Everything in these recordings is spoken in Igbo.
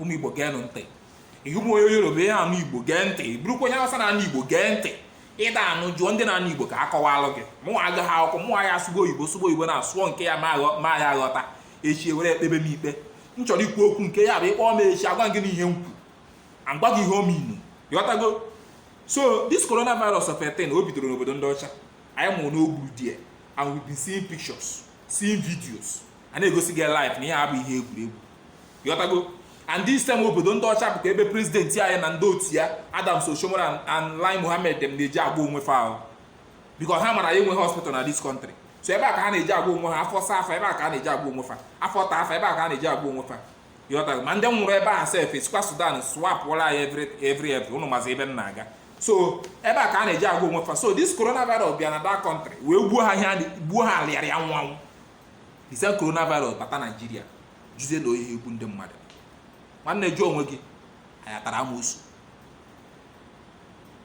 ụmụ igbo geenụ ntị ị bụrụ onye yoruba na-anụ igbo gee ntị bụrụkwa onye awụsa na-anụ igbo gee ntị ị da anụ jụọ ndị na-anụ igbo ka a kọwalụ gị mụ agaghị akwụkwọ mụ ya asụgo oyibo sụgo oyibo na-asụọ nke ya ma ya ghọta echi e were ekpebe m ikpe m chọrọ ikwu okwu nke ya bụ ị kpọọ m echi agwa gị n'ihe m kwu agwa gị ihe ọ mean ị ghọtago so this coronavirus of a thing o bidoro n'obodo ndị ọcha anyị nụrụ na o gburu die and we've been seeing pictures seeing videos a na-egosi gị live na ihe a abụ ihe egwuregwu ghọtago and this time obodo ndị ọcha bụkwa ebe prezidenti anyị na ndị otu ya Adams Oshiomhole and Lai Mohammed dem na-eje agwọ onwe fa ahụ because ha mara anyị enweghị hospital na this country so ebe a ka ha na-eje agwọ onwe ha afọ saa fa ebe a ka ha na-eje agwọ onwe fa afọ taa fa ebe a ka ha na-eje agwọ onwe fa ị ghọtago ma ndị nwụrụ ebe a sef e sikwa Sudan swapụla anyị every every every ụnụ mazi ebe m na-aga so ebe a ka ha na-eje agwọ onwe fa so this coronavirus bịa na that country wee gbuo ha ihe a na- gbuo ha arịa arịa anwụ anwụ the same coronavirus bata naijiria jụzie na ọ ya-egbu ndị mmadụ nwanne jụọ onwe gị anyị atara amosu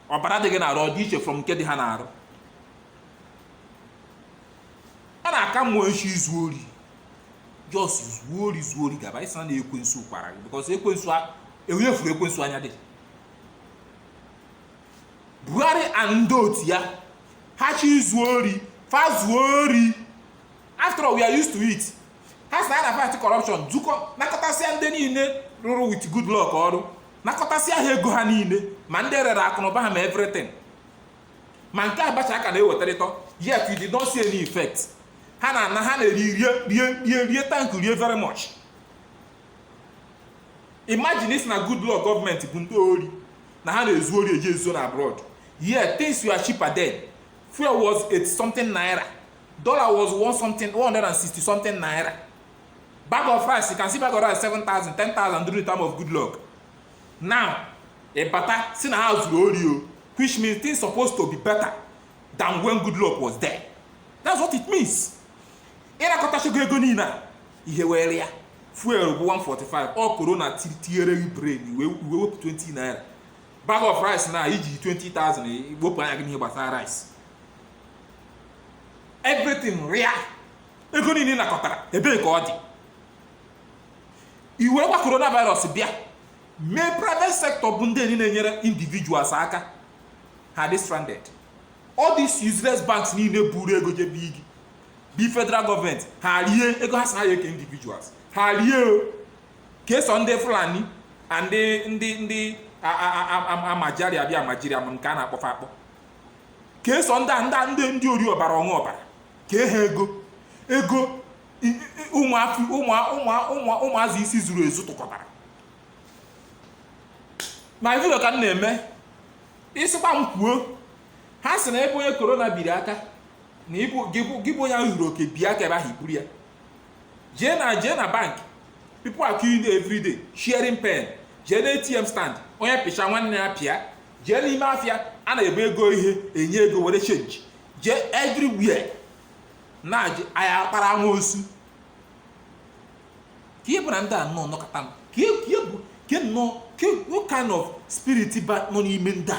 ọbara dị gị n'arụ ọ dị iche from nke dị ha n'arụ ọ na-aka mma ị chọọ izu ori just zuo ori zuo ori gaba ị sị na ekwensu kwara gị because ekwensu a- enwe efuru ekwensu anya dị buhari and ndị otu ya ha chọọ izu ori fa zuo ori after all we are used to it ha sị na ha na-fight corruption zukọọ nakọtasịa ndị niile rụrụ with goodluck ọrụ nakọtasịa ha ego ha niile ma ndị rere akụnụba ha ma everything ma nke abacha a ka na-ewetarịtọ yet you did not see any effect ha na-ana ha na-eri rie rie rie rie tank rie very much imagine isi na good luck gọọmenti bụ ndị ori na ha na-ezu ori eji ezo na abroad yeah things were cheaper then fuel was 8 something naira dollar was 1 something 160 something naira bag of rice you can see bag of rice 7000 10000 during the time of good luck now ịbata si na ha zuru ori o which means things supposed to be better than when good luck was there that's what it means ịrakọtachago ego niile a ihe were ya fuel bụ 145 ọ corona tinyere gị brain wee wee wepụ 20 naira bag of rice na-eje 20,000 wepụ anya gị n'ihe gbasara rice everything rịa ego niile ị nakọtara ebee ka ọ dị i wekwa coronavirus bịa mee private sector bụ ndị ya na-enyere individuals aka ha dị stranded all these useless banks niile buru ego jebe igi bi federal gọọmenti ha rie ego ha sị na a ya-eke individuals ha rie o kee sọ ndị fulani na ndị ndị ndị a- a- a- a- a- amajari abi amajiri ama nke a na-akpọ fa akpọ kee sọ ndị a- ndị a- ndị ndị ori ọbara ọṅụ ọbara kee ha ego ego i- i- ụmụafọ ụmụ- ụmụ- ụmụ- ụmụazị isi zuru ezu tụkọtara ma vidio ka m na-eme ị sịkwa m kwuo ha sị na ebe onye corona biri aka na ịbụ gị bụ- gị bụ onye ahụ zuru oke bịa ka ebe ahụ iburu ya jee na jee na bank people are queuing there every day sharing pen jee na atm stand onye pịcha nwanne ya pịa jee n'ime afịa a na-ebe ego ihe enye ego were change jee everywhere na je- anyị akpara amoosu ka ị bụ na ndị a nnọọ nọkọta m ka ị- ka ị bụ ka ị nnọọ ka ị- what kind of spirit nọ n'ime ndị a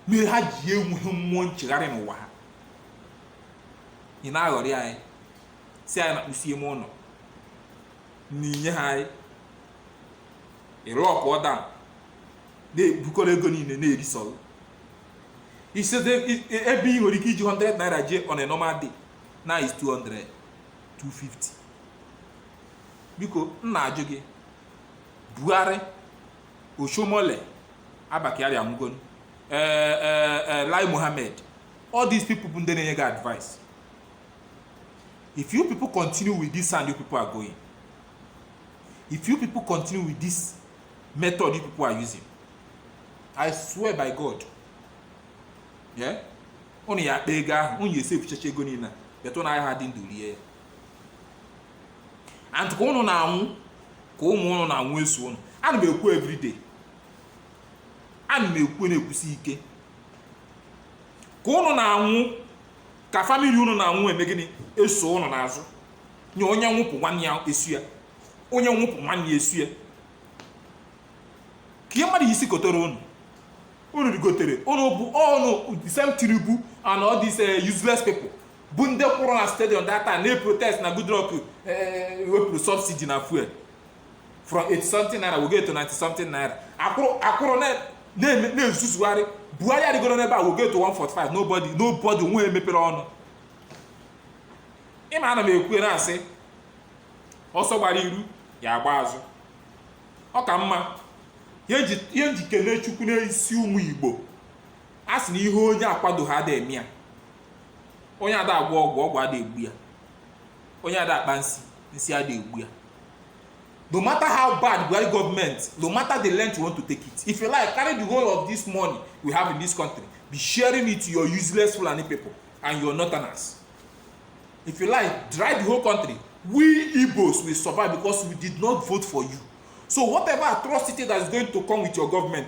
mere ha ji enweghị mmụọ nchegharị n'ụwa ha ị na-aghọrị anyị sị anyị na-akpụsi ime ụlọ na inye ha anyị lockdown na-ebukọrọ ego niile na-erisọrọ isete ebe ị nwere ike iji 100 naira jee on a normal day now is 200 250 biko m na-ajụ gị Buhari Oshiomhole Abba Kyari anwụgonu ee ee ee Lai Mohammed all these people bụ ndị na-enye gị advice if you people continue with this hand you people are going if you people continue with this method you people are using I swear by God yeah unu ya akpa ego ahụ unu ya esefuchacha ego niile a, but unu ayaha adị ndụ rie ya and ka ụnụ na-anwụ ka ụmụ ụnụ na-anwụ eso ụnụ ana m ekwu everyday ana m ekwu na-ekwusi ike ka ụnụ na-anwụ ka famili ụnụ na-anwụ eme gịnị eso ụnụ n'azụ nye onye nwụpụ nwanne ya eso ya onye nwụpụ nwanne ya eso ya ka ihe mmadụ isi kotere ụnụ unu rigotere unu bụ ọnụ same Tinubu and all these uh, useless people bụ ndị kwụrụ na stadium that time na-eprotest na Goodluck wepụrụ subsidy na fuel from 80 something naira wega to 90 something naira akwụrụ akwụrụ na-ezuzugharị Buhari arịgoro n'ebe a wega to 145 nobody nobody nwe emepere ọnụ ị ma ana m ekwu na-asị ọsọ gbara iru ya agba azụ ọ ka mma ihe m ji ekene chukwu n'isi ụmụ Igbo a sị na ihe onye akwado ha ada eme ya onye ada agwọ ọgwụ ọgwụ ada egbu ya onye ada akpa nsi nsi ada egbu ya no matter how bad buhari government no matter the length you want to take it if you like carry the whole of this money we have in this country be sharing it to your useless fulani people and your northerners if you like dry the whole country we igbos will survive because we did not vote for you so whatever atrocity that is going to come with your government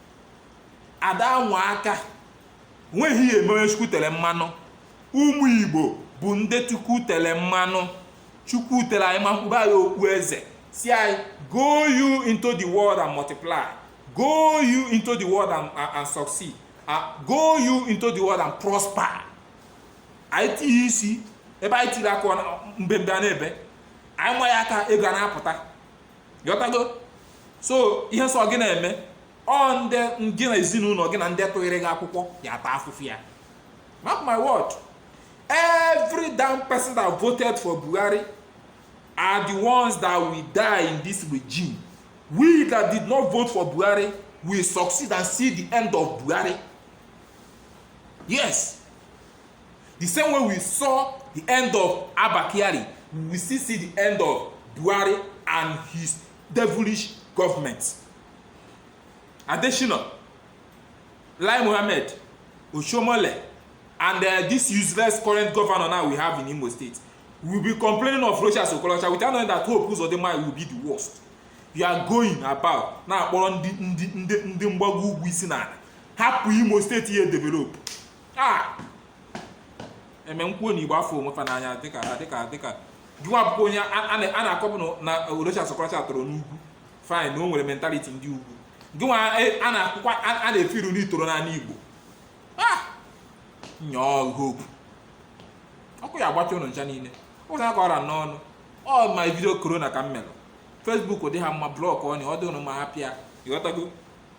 ada anwa aka nweghị ihe eme onye chukwu tere mmanụ ụmụ igbo bụ ndị chukwu tere mmanụ chukwu tere anyị mmanụ kpube anyị okpu eze sị anyị go you into the world and multiply go you into the world and, and, and succeed uh, go you into the world and prosper anyị tinye isi ebe anyị tiri aka mbembe a na-ebe anyị nwa ya aka ego a na-apụta ghọtago so ihe sọ gị na-eme ọ ndị gị na ezinụlọ gị na ndị tụnyere gị akwụkwọ ya-ata afụfụ ya mark my word every damn person that voted for buhari are the ones that will die in this regime we that did not vote for buhari will succeed and see the end of buhari yes the same way we saw the end of abba kyari we will still see the end of buhari and his devilish government adesina lai mohammed oshiomhole and uh, this useless current governor now we have in imo state will be complaining of rochas okorocha without knowing that hope uzodinma will be the worst you are going about na-akpọrọ ndị ndị ndị ndị mgbago ugwu isi n'ala hapụ imo state ya develop Ah! e mee m kwuo na igbo afụrọ onwe fa n'anya dịka dịka dịka gịnwa bụkwa onye a na-akọpụ na Rochas Okorocha toro n'ugwu fine na o nwere mentality ndị ugwu gịnwa e, a na-akwụkwa a na-efeel na i toro n'ala igbo ah! nyọọ hope ọkụ ya-agbacha ụnụ ncha niile ụzọ aka ọra n'ọnụ all my video corona ka m mere facebook dị ha mma blockụọnụ ọ dị ụnụ mma hapụ ya ị ghọtago